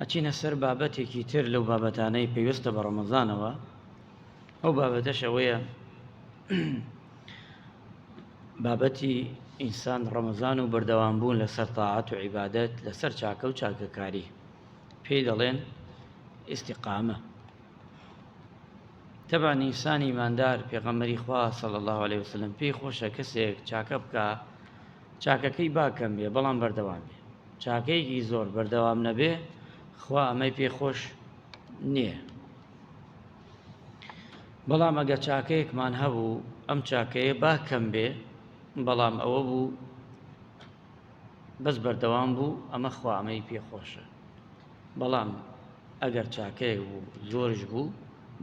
ئەچینە سەر بابەتێکی تر لەو بابەتانەی پێویستە بە ڕەمەزانەوە ئەو بابەتەش ئەوەیە بابەتی ئینسان ڕەمەزان و بەردەوام بوون لە سەر تاعات و عیبادەت لەسەر چاکە و چاکەکاری پێی دەڵێن ئیسیقامە تەبا نیسانی مادار پێغەمەری خوا سەڵ الله عليه وسلم پێی خۆشە کەسێک چاکە بکە چاکەکەی با کەم بێ بەڵام بەردەوام بێ چاکەیەکی زۆر بەردەوام نەبێ خوا ئەمەی پێ خۆش نییە بەڵام ئەگە چاکەیەکمان هەبوو ئەم چاکەیە با کەم بێ بەڵام ئەوە بوو بەس بەردەوام بوو ئەمە خوا ئەمەی پێ خۆشە بەڵام ئەگەر چاکەیەک بوو زۆرش بوو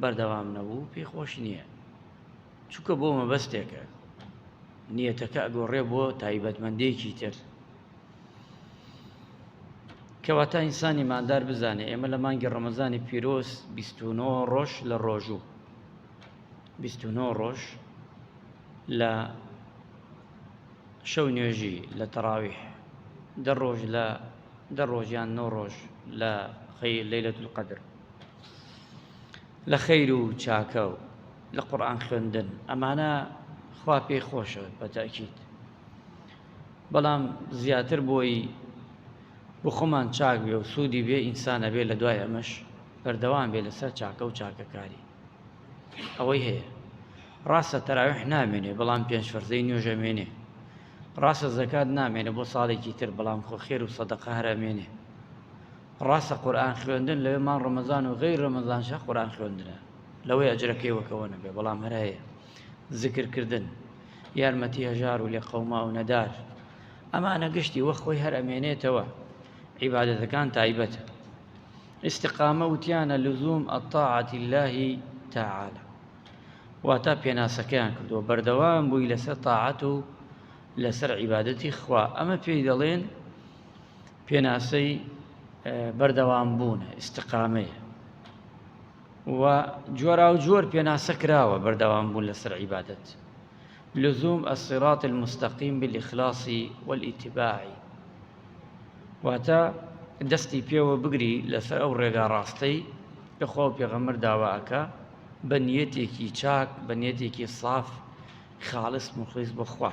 بەردەوام نەبوو پێ خۆش نییە چونکە بۆ مەبەستێکە نیەتەکە ئەگۆڕێ بۆ تایبەتمەندێکی تر کەواتە ئینسانی مادار بزانێ ئێمە لە مانگی ڕەمەزانی پیرۆز 29 ڕۆژ لە ڕۆژوو 29 ڕۆژ لە شەو نوێژی لە تەراویح دە ڕۆژ لە دە ڕۆژیان نۆ ڕۆژ لە خەی لەیلەت القدر لە خەیر و چاکە و لە قورئان خوێندن ئەمانە خوا پێی خۆشە بە تەئکید بەڵام زیاتر بۆی بۆ خۆمان چاک بێ و سوودی بێ ئینسان ئەبێ لە دوای ئەمەش بەردەوام بێ لەسەر چاکە و چاکەکاری ئەوەی هەیە ڕاستە تەراویح نامێنێ بەڵام پێنج فەرزەی نوێژە مێنێ ڕاستە زەکات نامێنێ بۆ ساڵێکی تر بەڵام خۆ خێر و سەدەقە هەرە مێنێ ڕاستە قورئان خوێندن لەوێ مانگ ڕەمەزان و غەیر ڕەمەزانشە قورئان خوێندنە لەوەی ئەجرەکەی وەکەوە نەبێ بەڵام هەر هەیە زکرکردن یارمەتی هەژار و لێ قەوما و نەدار ئەمانە گشتی وە خۆی هەر ئەمێنێتەوە عیبادەتەکان تایبەتە استقامە وتیانە لزوم الطاعة الله تعالى واتا پێناسەکەیان کردووە بەردەوام بووی لەسەر تاعەت و لەسەر عیبادەتی خوا ئەمە پێی دەڵێن پێناسەی بەردەوام بوونە ئیسستقامەیە و جۆرا و جۆر پێناسە کراوە بەردەوام بوون لەسەر عیبادت لزوم ئەسیرات المستەقیم بالإخلاصی والئیتباعی واتە دەستی پێوە بگری لەسەر ئەو ڕێگا ڕاستەی لەخوا و پێغەمەر داواکە بە نیەتێکی چاک بە نیەتێکی ساف خاڵست مخلیس بخوا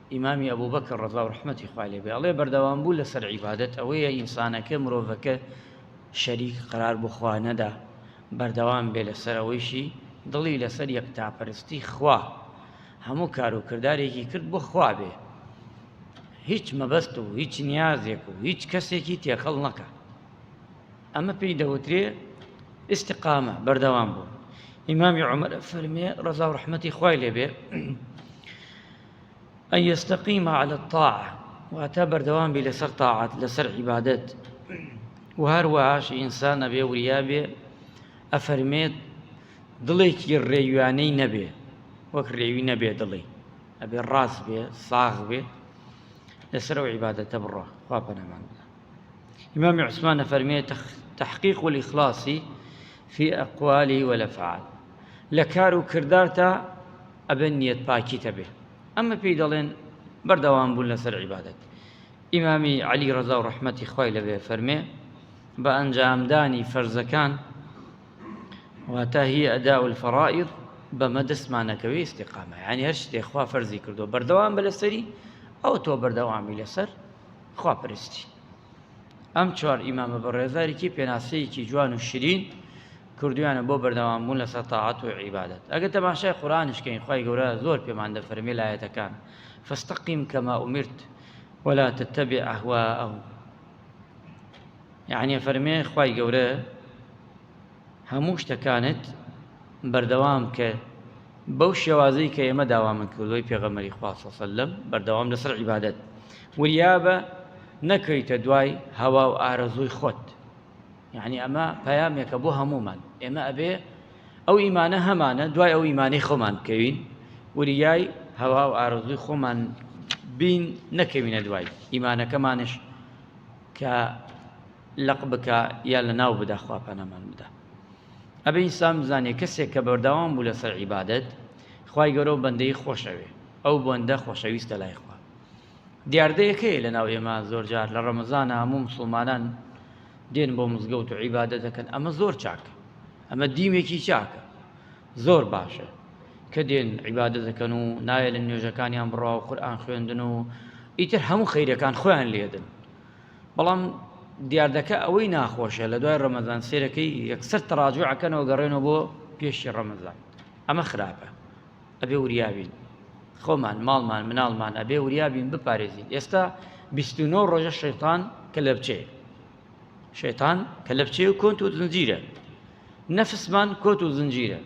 ئیمامی ئەبوبەکر ڕەزا و ڕەحمەتی خوای لێ بێ ئەڵێ بەردەوام بوو لەسەر عیبادەت ئەوەیە ئینسانەکە مرۆڤەکە شەریک قەرار بۆ خوا نەدا بەردەوام بێ لەسەر ئەوەیشی دڵی لەسەر یەکتاپەرستی خوا هەموو کار و کردارێکی کرد بۆ خوا بێ هیچ مەبەست و هیچ نیازێک و هیچ کەسێکی تێکەڵ نەکە ئەمە پێی دەوترێ ئستقامە بەردەوام بوو ئیمامی عمر فەرمێ ڕزا و ڕحمەتی خوای لێبێ ئەی یەستەقیم علی الطاعە واتە بەردەوام بی لەسەر تاعەت لەسەر عیبادەت و هەروەهاش ئینسان ئەبێ وریا بێ ئەفەرمێت دڵێکی ڕێویانەی نەبێ وەک ڕێوی نەبێ دڵی ئەبێ ڕاست بێ ساغ بێ لەسەر و عیباەتە بڕە خوا پەنەمان ئیمام عوسمان نەفەرمێت تحقیق و ئیخلاصی في ئەقوالی وەلەفعال لە کار و کردارتە ئەبێ نیەت پاکیت هەبێ ئەمە پێی دەڵێن بەردەوام بوون لەسەر عیبادەت ئیمامی عەلی ڕەزا و ڕەحمەتی خوای لەبێ فەرمێ بە ئەنجامدانی فەرزەکان واتە هی ئەدا الفەڕائض بەمە دەستمانەکەوێ استقامە یعنی هەر شتێ خوا فەرزی کردو بەردەوام بە لەسەری ئەو تۆ بەردەوامی لەسەر خواپەرستی ئەم چوار ئیمامە بەڕێزاریکی پێناسەیەکی جوان و شرین کردویانە بۆ بەردەوام بوون لەسەر تاعات و عیبادەت ئەگە تەماشای قورانشکەین خی گەورە زۆر پێمان دەفەرمێ لایەتەکان فستەقیم کەما ئومرت ولا تتبع ئەهواءهم یعنی فەرمێ خی گەورە هەموو شتەکانت بەردەوام بکە بەو شێوازەی کە ئێمە داوامن کردووەی پێغەمەری خوا صلی الله علیه و سلم بەردەوام لەسەر عیبادەت وریابە نەکەویتە دوای هەوا و ئارەزووی خۆت یعنی ئەمە پەیامێکە بۆ هەمومان ئێمە ئەبێ ئەو ئیمانە هەمانە دوای ئەو ئیمانەی خۆمان بکەوین وریای هەوا و ئارەزووی خۆمان بین نەکەوینە دوای ئیمانەکەمانش کە لەق بکا یا لەناو بدا خوا پەنامان بدا ئەبێ ئینسان بزانێ کەسێک کە بەردەوام بوو لەسەر عیبادەت خوای گەورە و بەندەی خۆشەوێ ئەو بەندە خۆشەویستە لای خوا دیاردەیەکەیە لەناو ئێمە زۆرجار لە ڕەمەزانە هەموو مسلمانان دێن بۆ مزگەوت و عیبادە دەکەن ئەمە زۆر چاکە ئەمە دیمێکی چاکە زۆر باشە کە دێن عیبادە دەکەن و نایە لە نوێژەکانیان بڕوا و قورآان خوێندن و ئیتر هەموو خیرەکان خۆیان لێدن بەڵام دیاردەکە ئەوەی ناخۆشە لە دوای ڕەمەزان سێرەکەی یەکسەر تەڕاجوع ئەکەنەوە گەڕێنەوە بۆ پێشی ڕەمەزان ئەمە خراپە ئەبێ وریابین خۆمان ماڵمان مناڵمان ئەبێ وریابین بپارێزین ئێستا 29 ڕۆژە شەیتان کە لە بچێ شەیتان کە لە بچێ و کۆنت و زنجیرە نەفسمان کۆت و زنجیرە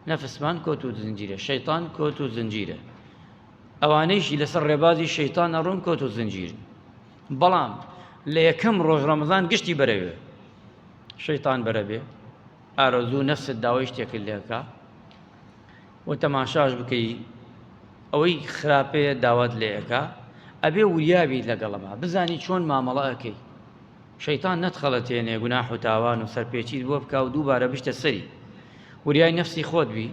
نەفسمان کۆت و زنجیرە شەیتان کۆت و زنجیرە ئەوانەیشی لەسەر ڕێبازی شەیتان ئەڕۆن کۆت و زنجیر بەڵام لە یەکەم ڕۆژ ڕەمەزان گشتی بەرەوێ شەیتان بەرەبێ ئارەزوو نەفست داوای شتێکرد لێکە و تەماشاش بکەی ئەوەی خراپەیە داوات لێەکە ئەبێ وریابی لەگەڵەما بزانی چۆن مامەڵەکەی شەیتان نەتخەڵەتێنێ گوناح و تاوان و سەرپێچیت بۆ بکە و دووبارە بشتە سەری وریای نەفسی خۆت بی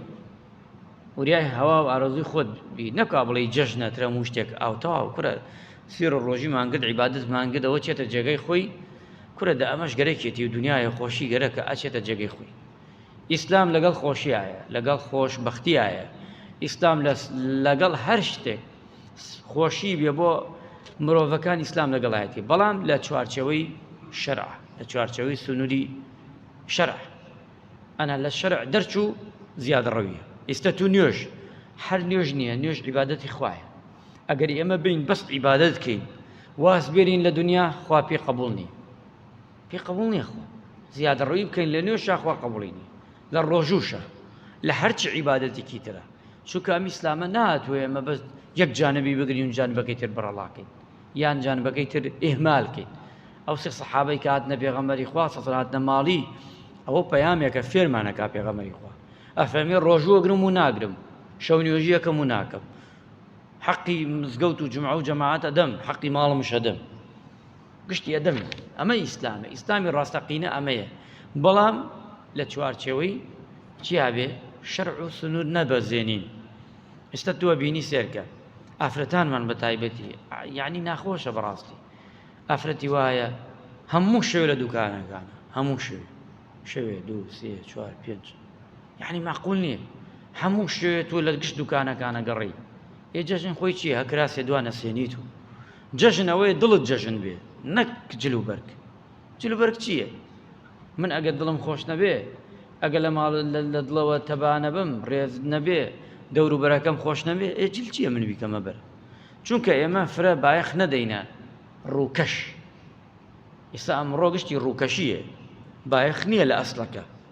وریای هەوا و ئارەزووی خۆت بی نەکا بڵێی جەژنە ترە هەموو شتێک ئاو تەواو کورە سوێڕ ڕۆژی مانگرد عیبادت مانگدەوە چێتە جێگەی خۆی کورە دە ئەمەش گەرەکێتی و دنیای خۆشی گەرەکە ئەچێتە جێگەی خۆی ئیسلام لەگەڵ خۆشیایە لەگەڵ خۆش بەختیایە ئیسلام لەگەڵ هەر شتێک خۆشی بێ بۆ مرۆڤەکان ئیسلام لەگەڵایەتی بەڵام لە چوارچەوەی شەرع لە چوارچەوەی سنووری شەرع ئەنا لە شەرع دەرچوو زیاد ڕەویە ئیستە تو نوێژ هەر نوێژ نییە نوێژ عیبادەتی خوایە ئەگەر ئێمە بین بەس عیبادەت کەین واز بێرین لە دنیا خوا پێ قبول نی پێ قبول نیە خۆ زیاد ڕوی بکەین لە نوێ شاخوا قبولینی لە ڕۆژوشە لە هەرچی عیباەتێکی ترە چونکە ئەم ئیسلامە ناتوێ ئەمە بەس یەک جانبی بگرین جانبەکەی تر بەڕەڵاکەین یان جانبەکەی تر ئیهمال کەین ئەو سێ سەحابەی کە هاتنە پێغەمبەری خوا سەڵ هاتنە ماڵی ئەوە پەیامێکە فێرمانەکە پێغەمبەری خوا ئەفەرمێ ڕۆژوە گرم و ناگرم شەو نوێژیەکەم و ناکەم حەقی مزگەوت و جمع و جەماعات ئەدەم حەقی ماڵم شەدەم گشتی ئەدەم ئەمە ئیسلامە ئیسلامی ڕاستەقینە ئەمەیە بەڵام لە چوارچەوەی چیابێ شەرع و سنوور نەبەزێنین ئێستا تۆ بینی سێرکە ئافرەتانمان بە تایبەتی یعنی ناخۆشە بەڕاستی ئافرەتی وایە هەموو شەوێ لە دوکانەکان هەموو شوێ شەوێ دوو سێ چوار پێنج یعنی ماقول نییە هەموو شوێ تۆ لە گشت دوکانەکانە گەڕی ئێ جەژن خۆی چیە هەکراسێ دوانە سێنیت و جەژنەوەی دڵت جەژن بێ نەک جل و بەرگ جلوبەرگ چییە؟ من ئەگەر دڵم خۆش نەبێ، ئەگەر لە ماڵ لە دڵەوە تەبا نەبم، ڕێز نەبێ، دەوروبەرەکەم خۆش نەبێ، ئێ جل چییە من بیکەمە بەر؟ چونکە ئێمە فرە بایەخ نەدەینە ڕووکەش. ئیستا ئەمڕۆ گشتی ڕووکەشییە، بایەخ نییە لە ئەسڵەکە.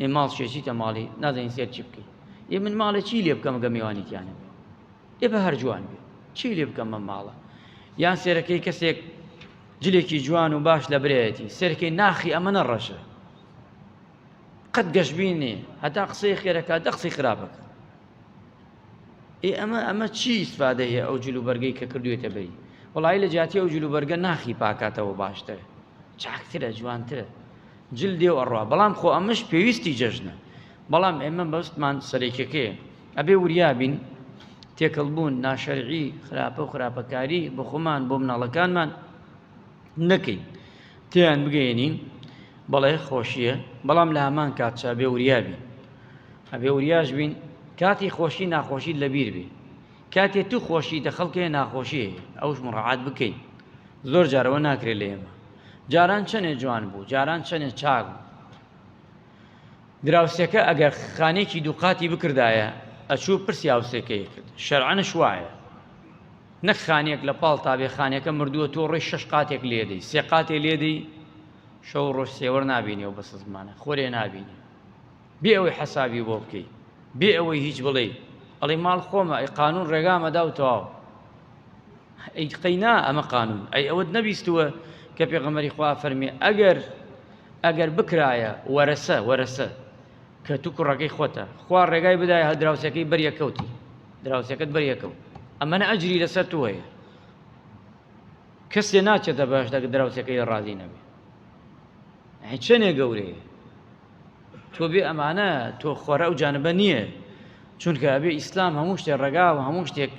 ئێ ماڵ چیە چیتە ماڵی نازانین سێر چی بکەین ئێ من ماڵێ چی لێ بکەم گە میوانی تیانە ئێ بە هەر جوان بێ چی لێ بکەم من ماڵە یان سێرەکەی کەسێک جلێکی جوان و باش لە برایەتی سێرکەی ناخی ئەمە نەڕەشە قەت گەشببینێ هەتا قسەی خێرەکە دە قسەی خراپەکە ئێ ئەمە ئەمە چی ئیسفادە هەیە ئەو جلو بەرگەی کە کردوێتە بەی وڵی لە جیاتی ئەو جلو بەرگە ناخی پاکاتەوە باشتر چاکترە جوانترە جل دێ و ئەڕا بەڵام خۆ ئەمەش پێویستی جەژنە بەڵام ئێمە مەبەستمان سەرەکیەکەیە ئەبێ وریا بین تێکەڵ بوون ناشەرعی خراپە و خراپەکاری بۆ خۆمان بۆ مناڵەکانمان نەکەین تیان بگەێنین بەڵێ خۆشیە بەڵام لە هەمان کات چا بێ وریا بین ئەبێ وریاش بین کاتی خۆشی ناخۆشی لەبیر بێ کاتێ تو خۆشی دەخەڵکێ ناخۆشی ئەوش مڕعات بکەین زۆر جارەوە ناکرێت لە ئێمە جاران چەنێ جوان بوو جاران چەنێ چاک بوو دراوسێکە ئەگەر خانێکی دووقاتی بکردایە ئەچوو پرسی هاوسێکەی کرد شەرعەنش وایە نەک خانێک لە پاڵ تابێ خانەکە مردووە تۆ ڕێی شش قاتێک لێدەی سێ قاتێ لێدەی شەو ڕۆژ سێوەر نبینی و بەسە زمانە خۆرێ نبینی بێ ئەوەی حەساوی بۆ بکەی بێ ئەوەی هیچ بڵێ ئەڵی ماڵ خۆمە ئەی قانون ڕێگامەدا و تەواو ئەی قەینا ئەمە قانون ئەی ئەوەت نەبیستووە کە پێغەمەری خوا فەرمی ئەگەر ئەگەر بکرایە وەرەسە وەرەسە کە تو کوڕەکەی خۆتە خوا ڕێگای بدای هە دراوسەکەی بەریەکەوتی دراوسەکەت بەریەکەوت ئەمەە ئەجری لەسەر تو هەیە کەسێ ناچێتە باش دەگە دراوسەکەی ڕازی نەبێ چەندێ گەورەیە تۆ بێ ئەمانە تۆ خۆرە ئەو جانبە نییە چونکە ئەبێ ئیسلام هەموو شتێ ڕێگا و هەموو شتێک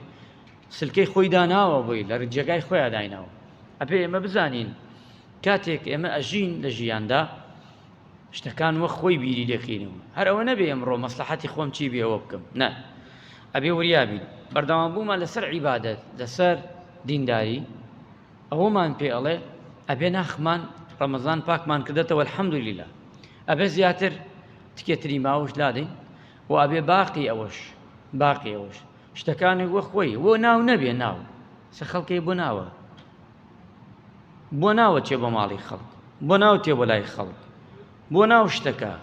سلکەی خۆی داناوە بۆی لە جێگای خۆیان دایناوە ئەبێ ئێمە بزانین کاتێک ئێمە ئەژین لە ژیاندا شتەکان وە خۆی بیری لەکەینەوە هەر ئەوە نەبێ ئەمڕۆ مەسلحەتی خۆم چی بێ ئەوە بکەم نە ئەبێ وریابین بەردەوام بوومان لەسەر عیبادەت لەسەر دینداری ئەوەمان پێ ئەڵێ ئەبێ ناخمان ڕەمەزان پاکمان کردێتەوە الحەمدلیلا ئەبێ زیاتر تکێتری ماوەش لادەین و ئەبێ باقی ئەوەش باقی ئەوەش شتەکانی وە خۆی وە ناو نەبێ ناو سە خەڵکەی بۆ ناوە بۆ ناوە چێ بۆ ماڵی خەڵک بۆ ناو تێ بۆ لای خەڵک بۆ ناو شتەکە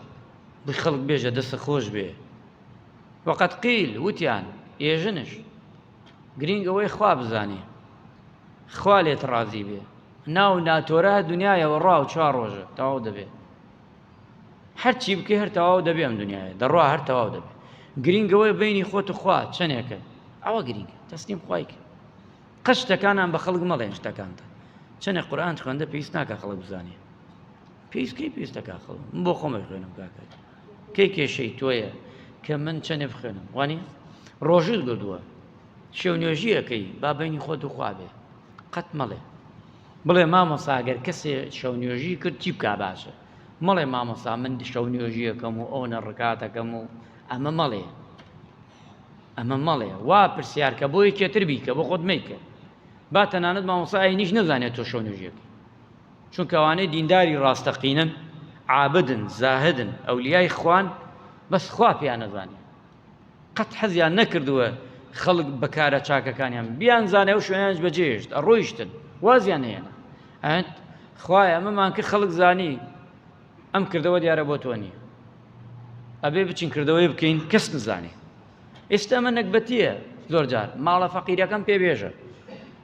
بە خەڵک بێژە دەسە خۆش بێ وەقەت قیل وتیان ئێژنش گرینگ ئەوەی خوا بزانێ خوا لێت ڕازی بێ ناو ناتۆرە دنیاەوە ڕاو چوار ڕۆژە تەواو دەبێت هەر چی بکەی هەر تەواو دەبێ ئەم دنیاە دەڕوا هەر تەواو دەبێ گرینگەوەی بینی خۆت خوا چەندێکە ئەوە گرینگ تەسلیم خوایک قشتەکانان بە خەڵک مەڵێن شتەکانتە چەنێک قورآان خوێندە پێویست ناکە خەڵک بزانێ پێویستکەی پێویستەکە خەڵ من بۆ خۆمە خوێنم کاکات کەی کێشەی تۆیە کە من چەندێ بخوێنم وانی ڕۆژت گردووە شێو نوێژیەکەی بابینی خۆت وخوابێ قەت مەڵێ بڵێ مامۆسا گەر کەسێ شەو نوێژی کرد چی بکا باشە مەڵێ مامۆسا من شەو نوێژیەکەم و ئەو نەڕکاتەکەم و ئەمە مەڵێ ئەمە مەڵێ وا پرسیارکە بۆ یەکێتر بیکە بۆ خۆت میکە با تەنانەت مامۆسای نیش نەزانێت تۆ شەو نوێژیەکە چون کەوانەی دینداری ڕاستەقینن عابدن زاهدن ئەولیای خوان بەس خوا پێیان نەزانێت قەت حەزیان نەکردووە خەڵک بە کارە چاکەکانیان بیانزانێ و شوێنیان بەجێشت ئەڕۆیشتن وازیان هێنا ئەت خوای ئەمەمان کە خەڵک زانی ئەم کردەوە دیارە بۆ تۆ نییە ئەبێ بچین کردەوەی بکەین کەس نزانێ ئێستا ئەمە نەکبەتیە زۆر جار ماڵە فەقیرەکەم پێ بێژە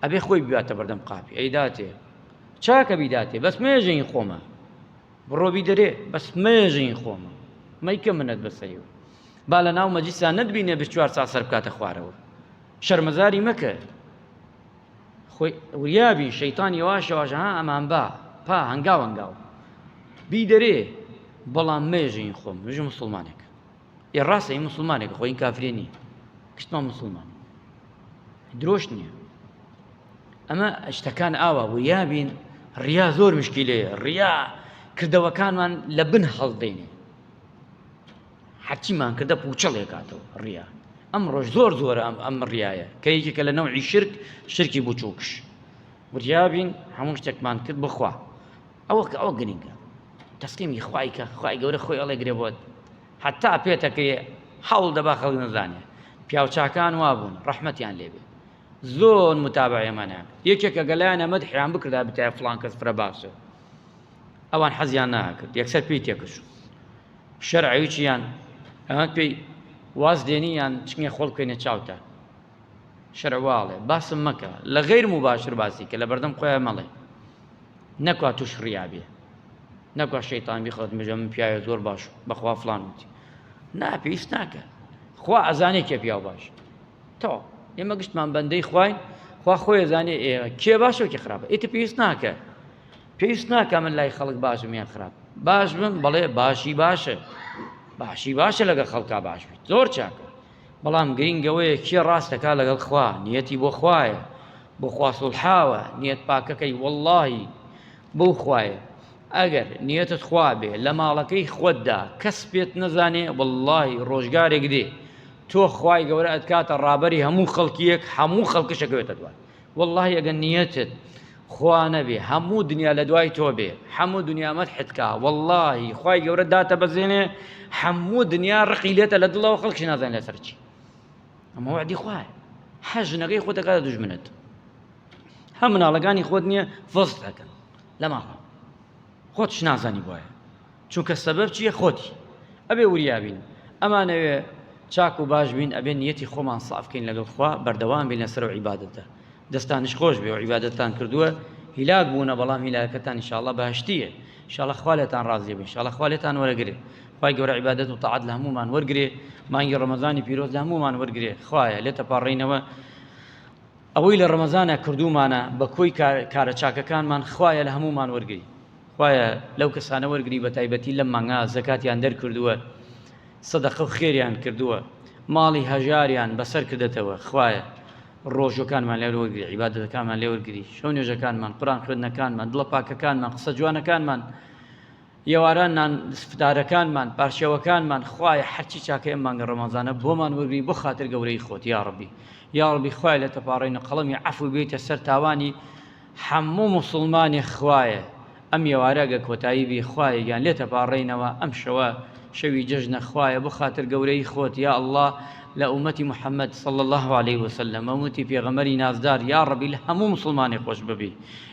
ئەبێ خۆی باتە بەردەم قاپی ئەیداتێ چاکە بیداتێ بەس مێژەین خۆمە بڕۆ بیدەرێ بەس مەیە ژین خۆمە مەیکە منەت بەسەری و با لە ناو مەجیسا نەتبینێ بە چوار سا سەر بکاتە خوارەوە شەرمەزاری مەکە خۆی وریابی شەیتان یەواشەواشە ها ئەمان با پا هەنگاو هەنگاو بی دەرێ بەڵام مێژین خۆم مژ مسلمانێک ئێ ڕاستە ئی مسلمانێک خۆ این کافرێ نییە گشتمان مسلمان درۆش نییە ئەمە شتەکان ئاوا بوو یابین ڕیا زۆر مشکی لێ ڕیا کردەوەکانمان لە بن هەڵدەینێ هەرچیمان کردە پوچەڵێ کاتەوە ڕیا ئەم ڕۆژ زۆر زۆر ئەم ئەم ڕایە کە یەکێکە لە نەوعی شرک شرکی بچووکش وریابین هەموو شتێکمان کرد بخوا ئەوە کە ئەوە گرینگە تەسلیمی خوای کە خوای گەورە خۆی ئەڵێ گرێ بۆت حتا پێتەکرێ حەوڵ دەبا خەڵک نەزانێ پیاوچاکان وابوون ڕەحمەتیان لێبێ زۆر متابعێمانیان یەکێکە گەلایان ئەمەد حیان بکردا بتای فلان کەس فرە باشە ئەوان حەزیان ناکرد یەکسەر پێی تێکش شەرعویچیان ئەمە پێی واز دێنیان چنگە خۆڵکەێنە چاوتە شەرع واڵێ باسم مەکە لە غیر مباشر باسی کە لە بەردەم خۆیان مەڵێ نەکوا توش ڕیابێ نەکوا شەیتان بخوات مژە من پیاوە زۆر باش بەخوا فلان وتی نا پێویست ناکە خوا ئەزانێ کێ پیاو باش تۆ ئێمە گشتمان بەندەی خوین خوا خۆی زانێ ئێوە کێ باشە کێ خراپە ئیتە پێویست ناکە پێویست ناکە من لای خەڵک باشم یان خراپ باش بم بەڵێ باشی باشە باشی باشە لەگە خەڵکا باش بێت زۆر چاکە بەڵام گرینگ ئەوەیە کێ ڕاست دەکا لەگەڵ خوا نیەتی بۆ خوایە بۆ خوا سوڵحاوە نیەت پاکەکەی وەڵڵاهی بەو خوایە ئەگەر نیەتت خوا بێ لە ماڵەکەی خۆتدا کەس پێت نەزانێ وەڵڵاهی ڕۆژگارێک دێ تۆ خوای گەورە ئەتکاتە ڕابەری هەموو خەڵکیەک هەموو خەڵکش ئەکەوێتە دوات وەڵڵاهی ئەگەر نیەتت خوا نەبێ هەموو دنیا لە دوای تۆ بێ هەموو دنیا مەدحت کا وەڵڵاهی خوای گەورە داتەبەزێنێ هەموو دنیا ڕقی لێتە لە دڵەوە خەڵکش نازان لەسەر چی ئەمە وعدی خوایە هەر ژنەکەی خۆت دەکاتە دوژمنت هەم مناڵەکانی خۆت نییە فۆست دەکەن لە ماڵەوە خۆتش نازانی بۆیە چونکە سەبەب چیە خۆتی ئەبێ وریابین ئەمانەوێ چاک و باش بین ئەبێ نیەتی خۆمان سافکەین لەگەڵ خوا بەردەوام بین لەسەر و عیبادەتە دەستانش خۆش بێ و عیبادەتتان کردووە هیلاک بوونە بەڵام هیلاکەتان انشاءالله بەهشتیە انشاءالله خوا لێتان ڕازی بێ انشاءالله خوا لێتان وەرەگرێ خوای گەورە عیبادەت و تاعەت لە هەموومان وەرگرێ مانگی ڕەمەزانی پیرۆز لە هەموومان وەرگرێ خوایە لێتە پاڕینەوە ئەوەی لە ڕەمەزانا کردوومانە بە کۆی کارە چاکەکانمان خوایە لە هەموومان وەرگری خوایە لەو کەسانە وەرگری بە تایبەتی لەم مانگا زەکاتیان دەرکردووە سەدەقە و خێریان کردووە ماڵی هەژاریان بەسەر کردەتەوە خوایە ڕۆژەکانمان لێ وەرگری عیبادەتەکانمان لێ وەرگری شەو نوێژەکانمان قوران خوێندنەکانمان دڵە پاکەکانمان قسە جوانەکانمان ئێواران نان سفدارەکانمان پارچەوەکانمان خوایە حەرچی چاکە ئەم مانگە ڕەمەزانە بۆمان وەرگری بۆ خاتر گەورەی خۆت یا ڕەبی یا ڕەبی خوای لە تەپاڕین و قەڵەمی عەفو بێتە سەر تاوانی حەموو موسڵمانی خوایە ئەم ئێوارەگە کۆتایی بی خوایە گیان لێ تەپاڕێینەوە ئەم شەوە شەوی جەژنە خوایە بۆ خاتر گەورەی خۆت یا ئەڵڵا لە ئومەتی محەممەد صلی الله عليه وسلم ئومەتی پێغەمەری نازدار یا ڕەبی لە هەموو مسلمانی خۆش ببی